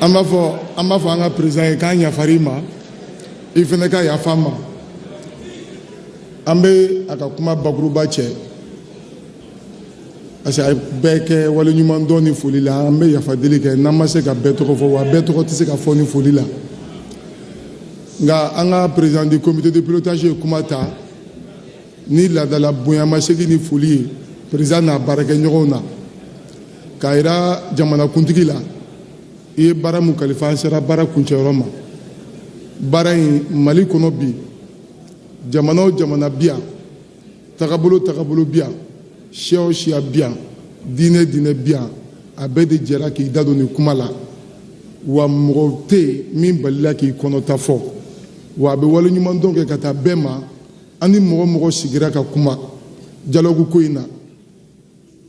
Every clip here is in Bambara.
an b'a fɔ an ka président ye k'an yafara i ma i fana ka yafa an ma an bɛ a ka kuma bakuruba cɛ parce que a bɛɛ kɛ waleɲumandɔn ni foli la an bɛ yafa deli kɛ n'an ma se ka bɛɛ tɔgɔ fɔ wa bɛɛ tɔgɔ tɛ se ka fɔ ni foli la nka an ka président du comité de pilotage ye kuma ta ni laadala bonyamasegin ni foli ye président n'a baarakɛɲɔgɔnw na k'a jira jamanakuntigi la i ye baara min kalifa an sera baara kuncɛyɔrɔ ma baara in mali kɔnɔ bi jamana o jamana bi yan tagabolo tagabolo bi yan siya o siya bi yan diinɛ diinɛ bi yan a bɛɛ de jɛra k'i da don nin kuma la wa mɔgɔ tɛ yen min balila k'i kɔnɔta fɔ wa a bɛ waleɲumandɔn kɛ ka taa bɛɛ ma an ni mɔgɔ o mɔgɔ sigira ka kuma dialogue ko in na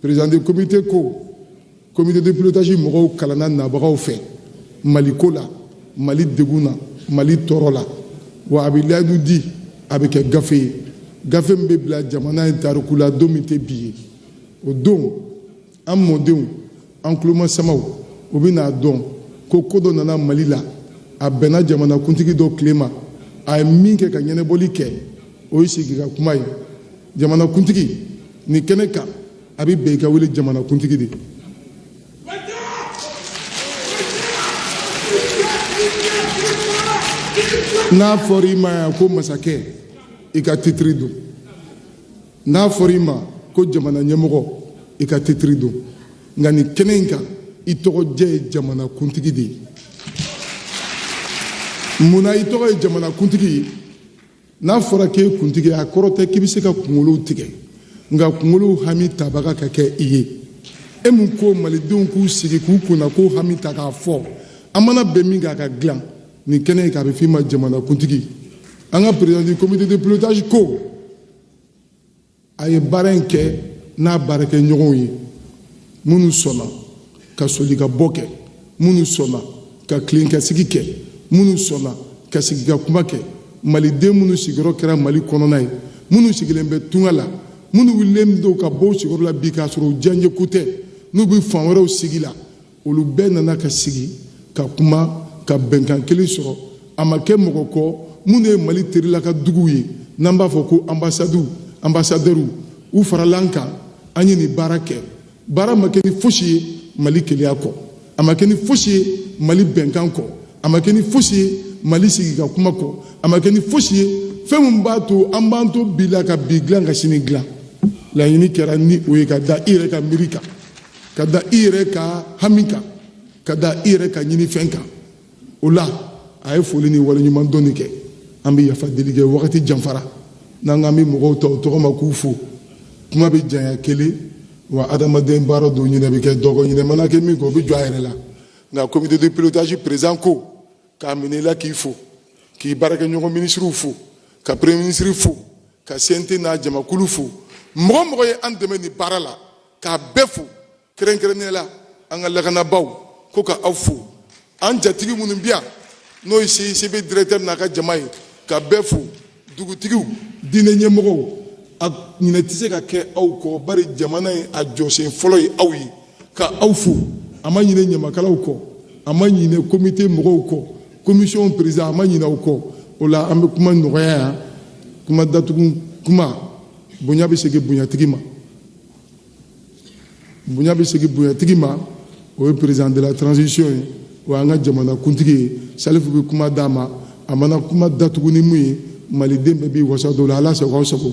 président de comité ko comité de pilotage mɔgɔw kalanna nabagaw fɛ mali ko la mali degun na mali tɔɔrɔ la wa a bɛ layidu di a bɛ kɛ gafe ye gafe min bɛ bila jamana in tariku la don min tɛ bi ye o don an mɔdenw an tulomasamaw u bɛ n'a dɔn ko ko dɔ nana mali la a bɛnna jamanakuntigi dɔ tile ma a ye min kɛ ka ɲɛnabɔli kɛ o ye sigi ka kuma ye jamanakuntigi nin kɛnɛ kan a bɛ bɛn i ka wele jamanakuntigi de n'a fɔra i ma yan ko masakɛ i ka titiri don n'a fɔra i ma ko jamana ɲɛmɔgɔ i ka titiri don nka nin kɛnɛ in kan i tɔgɔ jɛ ye jamana kuntigi de ye mun na i tɔgɔ ye jamana kuntigi ye n'a fɔra k'e kuntigi a kɔrɔ tɛ k'i bɛ se ka kunkolow tigɛ nka kunkolow hami tabaga ka kɛ i ye e mun ko malidenw k'u sigi k'u kunnako hami ta k'a fɔ an mana bɛn min kan a ka dilan nin kɛnɛ in kan a bɛ f'i ma jamana kuntigi an ka président du comité de pilotage ko a ye baara in kɛ n'a baarakɛɲɔgɔnw ye minnu sɔnna ka solikabɔ kɛ minnu sɔnna ka tilenkasigi kɛ minnu sɔnna ka sigi ka kuma kɛ maliden minnu sigiyɔrɔ kɛra mali kɔnɔna ye minnu sigilen bɛ tunga la minnu wulilen don ka bɔ u sigiyɔrɔ la bi k'a sɔrɔ u diyanyeko tɛ n'u bɛ fan wɛrɛw sigi la olu bɛɛ nana ka sigi ka kuma ka bɛnkan kelen sɔrɔ a ma kɛ mɔgɔ kɔ minnu ye mali terila ka duguw ye n'an b'a fɔ ko anbasadiw anbasadɛriw u farala an kan an ye nin baara kɛ baara ma kɛ ni fosi ye mali keleya kɔ a ma kɛ ni fosi ye mali bɛnkan kɔ a ma kɛ ni fosi ye mali sigi ka kuma kɔ a ma kɛ ni fosi ye fɛn min b'a to an b'an to bi la ka bi dilan ka sini dilan laɲini kɛra ni o ye ka da i yɛrɛ ka miiri kan ka da i yɛrɛ ka hami kan ka da i yɛrɛ ka ɲinifɛn kan o la a ye foli ni waleɲuman dɔnni kɛ an bɛ yafa deli kɛ wagati janfara n'an k'an bɛ mɔgɔw ta u tɔgɔ ma k'u fo kuma bɛ janya kelen wa adamaden baara don ɲinɛ bɛ kɛ dɔ kɔ ɲinɛ mana kɛ min kɔ o bɛ jɔ a yɛrɛ la nka comité de pilotage président ko k'a minɛ i la k'i fo k'i baarakɛɲɔgɔn minisiriw fo ka premier ministre fo ka CNT n'a jamakulu fo mɔgɔ o mɔgɔ ye an dɛmɛ nin baara la k'a bɛɛ fo kɛrɛnkɛrɛnnenya la an ka lakanabaaw ko ka aw fo an jatigi minnu bi yan n'o ye CICB directeur n'a ka jama ye ka bɛɛ fo dugutigiw diinɛ ɲɛmɔgɔw a ɲinɛ tɛ se ka kɛ aw kɔ bari jamana ye a jɔsen fɔlɔ ye aw ye ka aw fo a ma ɲinɛ ɲamakalaw kɔ a ma ɲinɛ comité mɔgɔw kɔ commission président a ma ɲinɛ aw kɔ o la an bɛ kuma nɔgɔya yan kuma datugu kuma bonya bɛ segin bonyatigi ma bonya bɛ segin bonyatigi ma o ye président de la transition ye o y'an ka jamanakuntigi ye salifu bɛ kuma d'a ma a mana kuma datugu ni mun ye maliden bɛɛ b'i wasa don o la ala sago aw sago